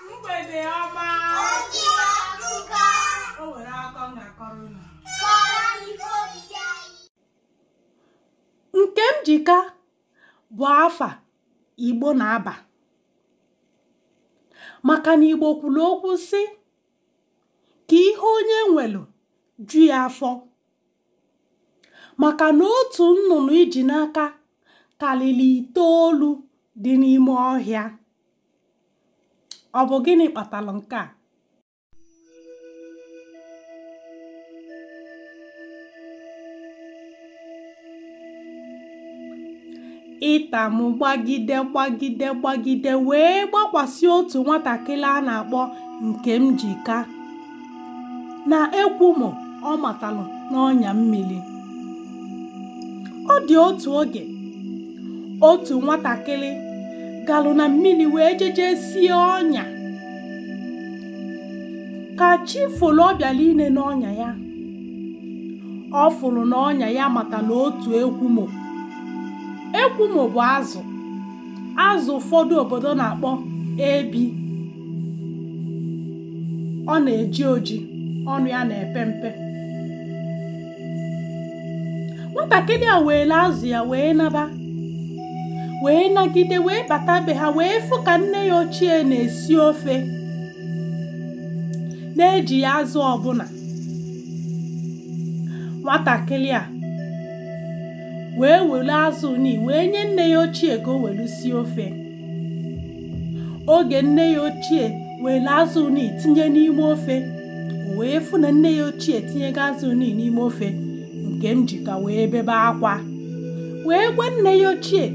mgbede ọma o nwere akọ m ga-akọrọ unu nkemjika bụ afa igbo na-aba maka na igbo kwuru okwu sị ka ihe onye nwere ju ya afọ maka na otu nnụnụ i ji n'aka karịrị itoolu dị n'ime ọhịa ọ bụ gịnị kpatara nke a ịta mụ gbagide gbagide gbagide wee gbakwasị otu nwatakịrị a na-akpọ nkemjika na ekwumo ọ matalụ n'ọnya mmiri ọ dị otu oge otu nwatakịrị galụ na mmiri wee jeje sie ọnya ka chi folu ọ bịara ine n'ọnya ya ọ fụrụ na ọnya ya matala otu ekwumo ekwumo bụ azụ azụ ụfọdụ obodo na-akpọ ebi ọ na-eji oji ọnụ ya na-epe mpe nwatakịrị a welu azụ ya wee naba wee nagide wee bata be ha wee fụ ka nne ya ochie na-esi ofe na-eji ya azụ ọbụla nwatakịrị a wee welu azụ ni wee nye nne ya ochie ka o welu sie ofe oge nne ya ochie welu azụ ni tinye n'ime ofe o wee fụ na nne ya ochie tinyego azụ ni n'ime ofe nkemjika wee bebe akwa wee gwa nne ya ochie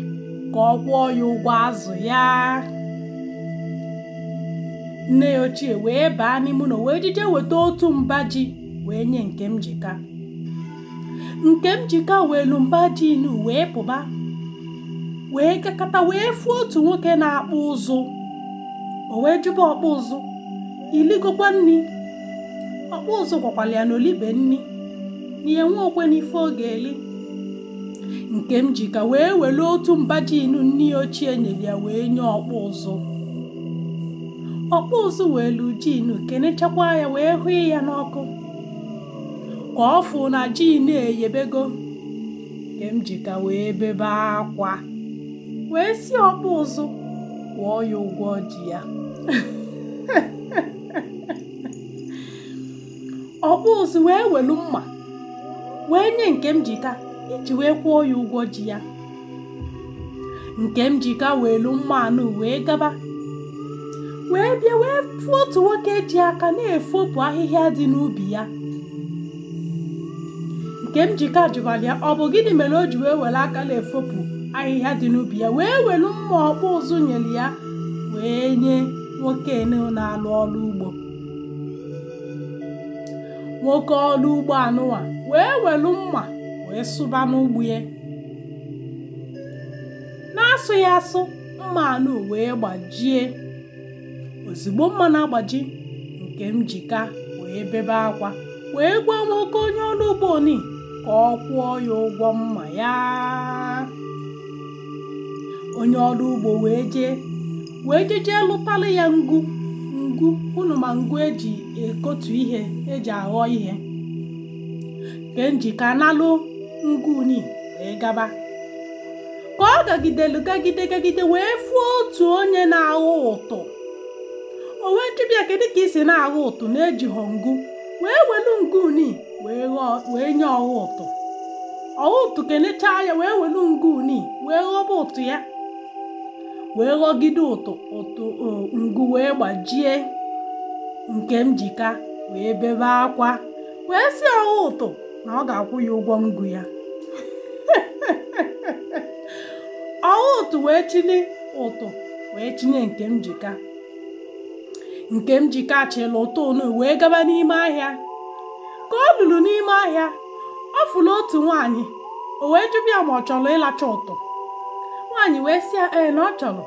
ka ọ kwụọ ya ụgwọ azụ ya nne ya ochie wee baa n'ime ụlọ wee jije weta otu mba ji wee nye nkemjika nkemjika welu mba ji inu wee pụba wee gakata wee fụ otu nwoke na-akpụ ụzụ o wee jụba ọkpụ ụzụ i ligokwa nni ọkpụ ụzụ gwakwalụ ya na o libe nni na ya enwehọkwanụ ife ọ ga-eli nkemjika wee welu otu mba ji inu nne ya ochie nyere ya wee nye ọkpụ ụzụ ọkpụ ụzụ welu ji inu kenechakwa ya wee hụ ya n'ọkụ ka ọ fụ na ji inu eyebego nkemjika wee bebe akwa wee sị ọkpụ ụzụ kwụọ ya ụgwọ ji ya ọkpụ ụzụ wee welu mma wee nye nkemjika iji wee kwụọ ya ụgwọ ji ya nkemjika welu mma anụ wee gaba wee bịa wee fụ otu nwoke ji aka na-efopụ ahịhịa dị n'ubi ya nkemjika jụbara ya ọ bụ gịnị mere o ji wee were aka na-efopụ ahịhịa dị n'ubi ya wee welu mma ọkpụ ụzụ nyelu ya wee nye nwoke na-alụ ọlụ ugbo nwoke ọlụ ugbo anụwa wee welu mma wee sụba n'ugbo ya na-asụ ya asụ mma anụ wee gbajie ozigbo mma na-agbaji nkemjika wee bebe akwa wee gwa nwoke onye ọlụ ugbo ni ka ọ kwụọ ya ụgwọ mma ya onye ọlụ ugbo wee jee wee jejee lụtalụ ya ngu ngu unu ma ngu e ji ekotu ihe e ji aghọ ihe nkemjika nalụ ngu ni wee gaba ka ọ gagidelu gagide gagide wee fụ otu onye na-aghọ ụtụ o wee jụba ya kedu ka i si na-aghọ ụtụ na-ejighọ ngu wee welu ngu ni wee nye ọghọ ụtụ ọghọ ụtụ kenechaa ya wee welu ngu ni wee ghọba ụtụ ya wee ghọgide ụtụ ụtụ o, ngu wee gbajie nkemjika wee bebe akwa wee sị ọghọ ụtụ na ọ ga-akwụ ya ụgwọ ngu ya ọghọ ụtụ wee chịlị ụtụ wee chịnye nkemjika nkemjika chịlị ụtụ ni wee gaba n'ime ahịa ka o lulu n'ime ahịa ọ fụrụ otu nwaanyị o wee jụba ya ma ọ chọrọ ịlacha ụtụ nwaanyị wee sị ya ee na ọ chọrọ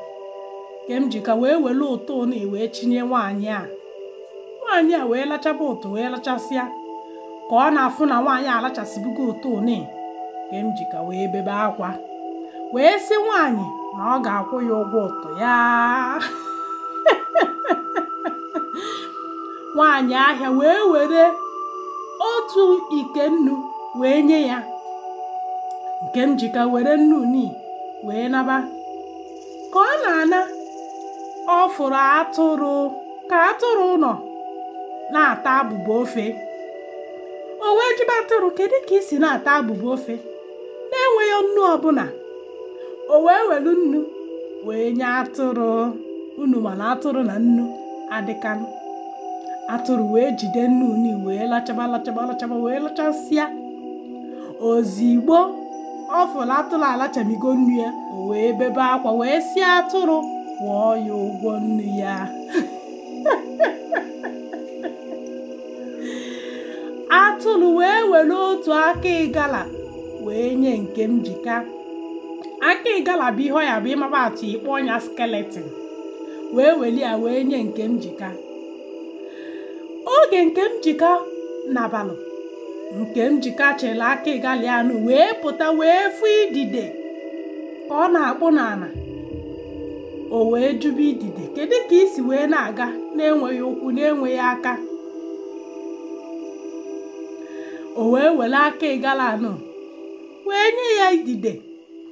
nkemjika wee welu ụtụ ni wee chịnye nwaanyị a nwaanyị a wee lachaba ụtụ wee lachasịa ka ọ na-afụ na nwaanyị alachasịbugo ụtụ ni nkemjika wee bebe akwa wee sị nwaanyị na ọ ga-akwụ ya ụgwọ ụtụ ya nwaanyị ahịa wee were otu ike nnu wee nye ya nkemjika were nnu ni wee naba ka ọ na-ana ọ fụrụ atụrụ ka atụrụ nọ na-ata abụba ofe o wee jụba atụrụ kedu ka i si na-ata abụba ofe na-enweghị nnu ọbụna o wee welu nnu wee nye atụrụ unu ma na atụrụ na nnu adịkanụ atụrụ wee jide nnu ni wee lachaba lachaba lachaba wee lachasịa ozigbo ọ fụrụ atụrụ alachamigo nnu ya o wee bebe akwa wee sị atụrụ kwụọ ya ụgwọ nnu ya atụrụ wee were otu aka ịgala wee nye Nkemjika aka ịgala bụ ihe ọ ya bụ ị maba atụ ị kpọọ nya skeleton wee weli ya wee nye Nkemjika oge Nkemjika nabalụ Nkemjika chịlị aka ịgala anụ wee pụta wee fụ idide ka ọ na-akpụ n'ala o wee jụba idide kedu ka i si wee na-aga na-enweghị ụkwụ na-enweghị aka o wee were aka ịgala anụ wee nye ya idide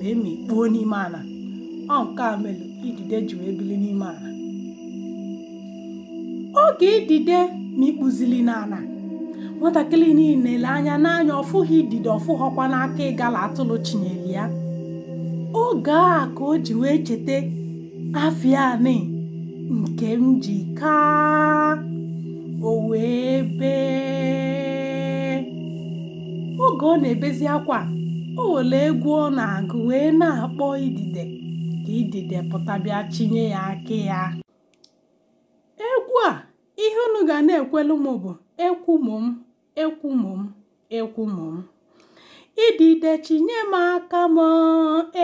wee mikpuo n'ime ala ọ nke a mere idide ji wee bili n'ime ala oge idide mikpuzili n'ala nwatakịrị nii lee anya n'anya ọ fụghị idide ọ fụghọkwanụ aka ịgala atụrụ chinyere ya oge a ka o ji wee cheta afa ya nii Nkemjika o wee bee oge ọ na-ebezi akwa o were egwu ọ na-agụ wee na-akpọ idide ka idide pụta bịa chinye ya aka ya egwu a ihe unu ga na-ekwelu m bụ ekwumom ekwumom ekwumom idide chinye m aka m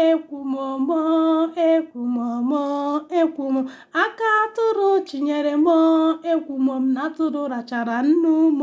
ekwumom ekwumom ekwumom aka atụrụ chinyere m ekwumom na atụrụ rachara nnu m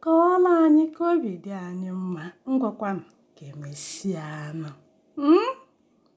Kọọrọ anyị ka obi dị anyị mma. Ngwakwanụ ka e mesịanụ. Mm?